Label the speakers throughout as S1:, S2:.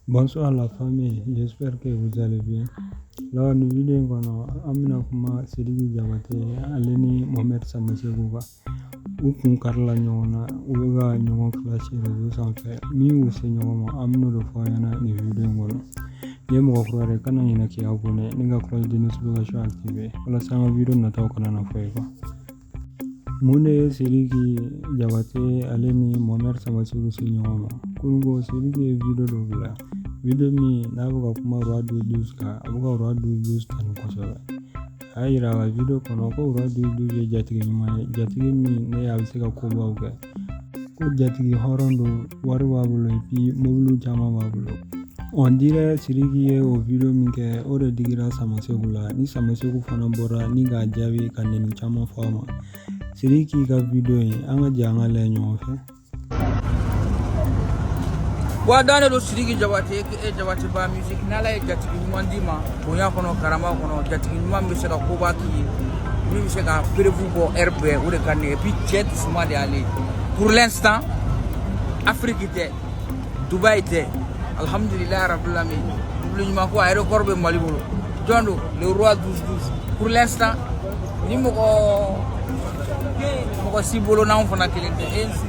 S1: Bonsoir la famille, j'espère que vous allez bien. Là, nin vidéo kɔnɔ an bɛna kuma Sidiki Diabaté ale ni Mohamed Samassekou kan u kun karila ɲɔgɔn na u bɛ ka ɲɔgɔn clash réseau sanfɛ min y'u se ɲɔgɔn ma an bɛn'o de fɔ aw ɲɛna nin video in kɔnɔ n'i ye mɔgɔ kura ye kana ɲinɛ k'i abonné ni ka cloche de notification activer walasa an ka video nataw kana na fɔ i kɔ mun de ye sidiki jabate ale ni Mohamed Samassekou se ɲɔgɔn ma kununko sidiki ye wideyo dɔ bila wideyo min n'a bɛ ka kuma roi 12 12 kan a bɛ ka roi 12 12 tanu kosɛbɛ a y'a yira a ka wideyo kɔnɔ ko roi 12 12 ye jatigi ɲuman ye jatigi min ne a bɛ se ka kobaw kɛ ko jatigi hɔrɔn don wari b'a bolo et puis mobili caman b'a bolo on dirait siriki ye o video min kɛ o de digira Samassekou la ni Samassekou fana bɔra ni k'a jaabi ka nɛni caman fɔ a ma siriki ka video ye an ka jɛ an k'a lajɛ ɲɔgɔn fɛ
S2: wa dɔn de don siriki jabate e jabateba music n'ala ye jatigi ɲuman d'i ma bonya kɔnɔ karama kɔnɔ jatigi ɲuman bɛ se ka koba k'i ye min bɛ se ka preuve bɔ hɛrɛ bɛ o de kan et puis cɛ dusuma de y'ale ye pour l'instant afiriki tɛ dubayi tɛ alhamdulilayi rabil alamin dubulu ɲuman ko a ye record bɛ mali bolo jɔn don le roi 12 12 pour l'instant ni mɔgɔ mɔgɔ si bolo n'anw fana kelen tɛ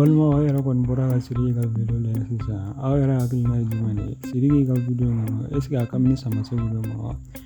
S1: balimaw aw yɛrɛ kɔni bɔra ka siriki ka video lajɛ sisan aw yɛrɛ hakilina ye jumɛn de ye siriki ka video ninnu est-ce que a kan bɛ ni Samassekou de ma wa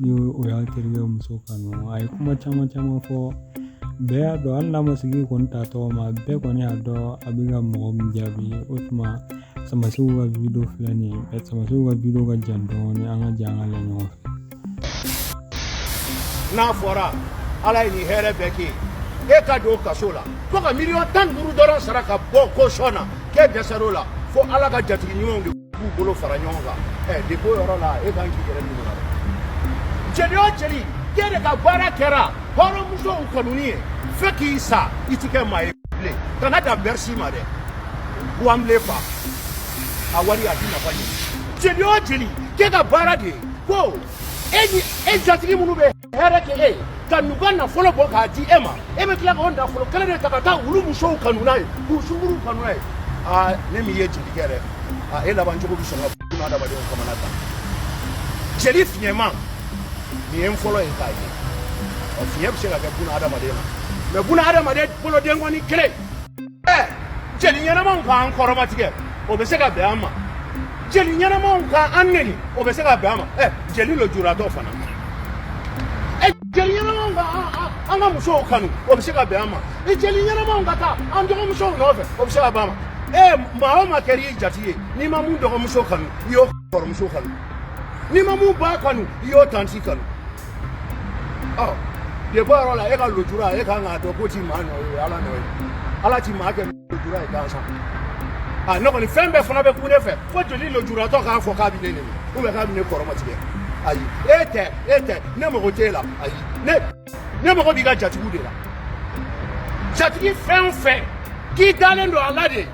S1: ni o y'a terikɛ muso kanu a ye kuma caman caman fɔ bɛɛ y'a dɔn hali n'a ma siriki kɔni ta tɔgɔ ma bɛɛ kɔni y'a dɔn a bɛ ka mɔgɔ min jaabi o tuma Samassekou ka wideyo filɛ nin ye Samassekou ka wideyo ka jan dɔɔni an ka jɛ an k'a lajɛ ɲɔgɔn
S3: fɛ n'a fɔra ala ye nin hɛrɛ bɛɛ kɛ e ka don kaso la fo ka miliyɔn tan duuru dɔrɔn sara ka bɔ kaso la k'e dɛsɛr'o la fo ala ka jatigi ɲumanw de b'u bolo fara ɲɔgɔn kan ɛ depuis o yɔrɔ la e kan k'i yɛrɛ minɛ la jeli o jeli k'e de ka baara kɛra hɔrɔnmusow kanuni ye fo k'i sa i ti kɛ maa ye bilen kana dan Bercy ma dɛ Wembley fa a wari a ti nafa ɲɛ jeli o jeli k'e ka baara de ye ko e ni e jatigi minnu bɛ hɛrɛ kɛ e ye ka n'u ka nafolo bɔ k'a di e ma e bɛ tila k'o nafolo kelen de ta ka taa olu musow kanu n'a ye k'u sunguru kanu n'a ye aa ne min ye jelikɛ dɛ aa e laban cogo bɛ sɔn ka buna adamadenw kamana ta jeli fiɲɛma nin ye n fɔlɔ ye k'a ye ɔ fiɲɛ bɛ se ka kɛ buna adamaden na mais buna adamaden bolodenkɔni kelen jeli ɲɛnamaw k'an kɔrɔmatigɛ o bɛ se ka bɛn an ma jeli ɲɛnamaw k'an neni o bɛ se ka bɛn an ma ɛ jeli lojuratɔ fana ɛ jeli ɲɛnamaw ka an ka musow kanu o bɛ se ka bɛn an ma i jeli ɲɛnamaw ka taa an dɔgɔmusow nɔfɛ o bɛ se ka bɛn an ma ɛ maa o maa kɛra i jati ye n'i ma mun dɔgɔmuso kanu i y'o kɔrɔmuso kanu n'i ma mun ba kanu i y'o tanti kanu de bɔ yɔrɔ la e ka lujura e kan k'a dɔn k'o ti maa nɔ ye ala nɔ ye ala ti maa kɛ lujura ye gansan a ne kɔni fɛn bɛɛ fana bɛ kun ne fɛ fo jeli lujuratɔ k'a fɔ k'a bɛ ne neni ou bien k'a bɛ ne kɔrɔmatigɛ ayi e tɛ e tɛ ne mago t'e la ayi ne ne mago b'i ka jatigiw de la jatigi fɛn o fɛn k'i dalen don a la de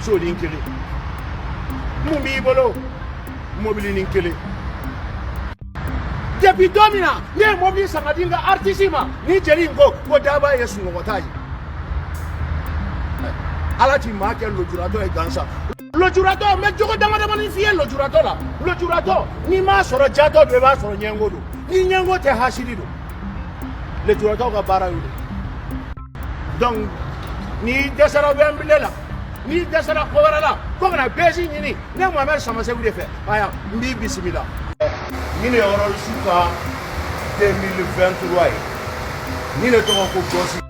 S3: sonin kelen mun b'i bolo mobilinin kelen depuis don min na ne ye mobili san ka di n ka artisi ma ni jeli in ko ko daba ye sunɔgɔ ta ye ala ti maa kɛ lojuratɔ ye gansan lojuratɔ n bɛ jogo damadamanin f'i ye lojuratɔ la lojuratɔ n'i m'a sɔrɔ jatɔ don i b'a sɔrɔ ɲɛngo don ni ɲɛngo tɛ hasidi don lojuratɔw ka baara y'o de ye donc n'i dɛsɛra Wembley la n'i dɛsɛra ko wɛrɛ la ko kana buzz ɲini ne mohamɛd samaseku de fɛ aya n b'i bisimila nin de ye Rolls ka 2023 ye nin de tɔgɔ ko Ghost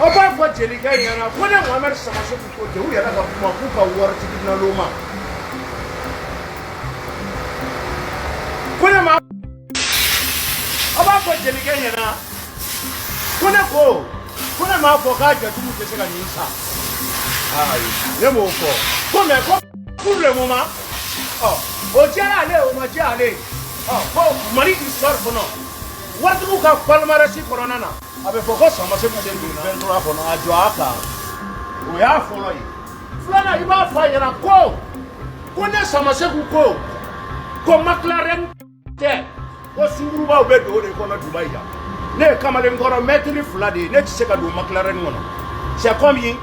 S3: aw b'a fɔ jelikɛ ɲɛna ko ne mohamɛd samaseku ko ten u yɛrɛ ka kuma k'u ka waritigi naloma ko ne ma A b'a fɔ jelikɛ ɲɛna ko ne ko ko ne m'a fɔ k'a jatigiw tɛ se ka nin san ne m'o fɔ ko mais ko pour le moment ɔ o diyara ale o ma diya ale ɔ ko mali histoire kɔnɔ waritigiw ka palmarès kɔnɔna na a bɛ fɔ ko samaseku de don 23 kɔnɔ a jɔ a kan o y'a fɔlɔ ye filanan i b'a fɔ a ɲɛna ko ko ne samaseku ko ko McLaren tɛ ko sungurubaw bɛ don o de kɔnɔ Dubai yan ne ye kamalenkɔrɔ mɛtiri fila de ye ne tɛ se ka don McLaren kɔnɔ c'est comme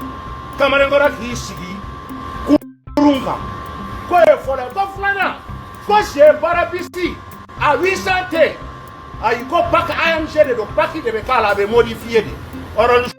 S3: kamalenkɔrɔ k'i sigi kurun kan k'o ye fɔlɔ ye ko filanan ko G Brabus a 800 tɛ ayi ko pack AMG de don pack de bɛ k'a la a bɛ modifiye de orange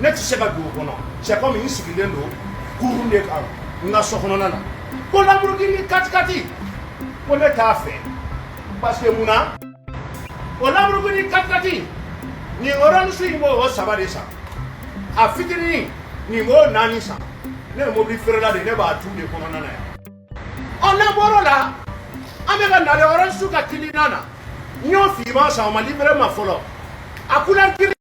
S3: ne tɛ se ka don o kɔnɔ c'est comme n sigilen don kurun de kan n ka so kɔnɔna na ko Lamborghini katikati ko ne t'a fɛ parce que mun na o Lamborghini katikati nin Rolls in b'o saba de san a fitinin nin b'o naani san ne ye mobili feerela de ne b'a tu de kɔnɔna na yan ɔ n'an bɔr'o la an bɛ ka na le Rolls ka Cullinan na n y'o finman san o ma livré n ma fɔlɔ a couleur gris